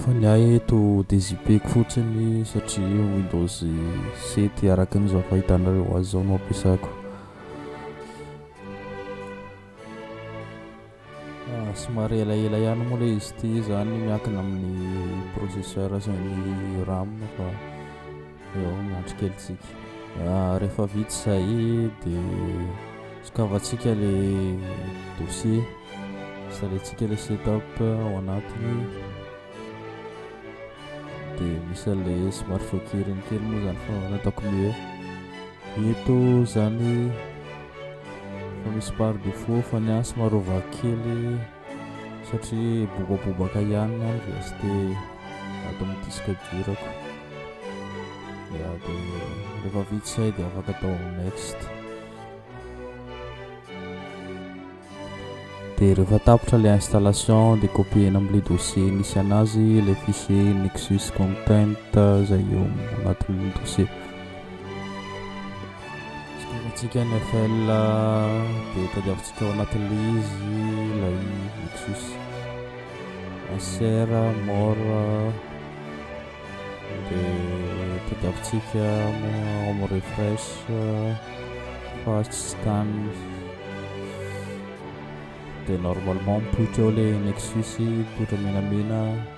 Fa ny ahy eto dia zipeko fotsiny satria Windows 7 araka ny izao fahitanareo azy izao no ampiasako. Ah, somary elaela ihany moa ilay izy ity izany miankina amin'ny processeur sy ny RAM fa Eo miandry kely tsika. Ah, rehefa vita izay dia sokavantsika ilay dossier. Salentsika ilay setup ao anatiny. Dia misy an'ilay smart fokiriny kely moa izany fa nataoko mieux. Eto izany fa misy par défaut fa ny ahy somary ovako kely. satria bobabobaka ihany ny andro dia tsy dia ato amin'ny disque durako dia dia rehefa vitsy zay dia afaka atao next dia rehefa tapitra le installation dia copiena amle dossier nisy anazy le fichier nexus content zay eo anatin'ny dossier Fitiavantsika ny FL dia tadiavintsika ao anatin'ilay izy ilay Lexus SR Mor dia tadiavintsika ao amin'ny refresh fa tsy stan dia normalement mipoitra eo ilay Lexus mipoitra menamena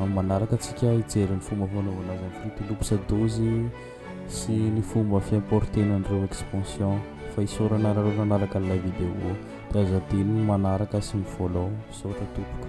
Amin'ny manaraka antsika hijery ny fomba fanaovana azy amin'ny Fruity Loops dozy sy ny fomba fi-importer-na an'ireo expansion fa isaorana anareo nanaraka an'ilay video. Dia aza adino ny manaraka sy mi-follow. Misaotra tompoko.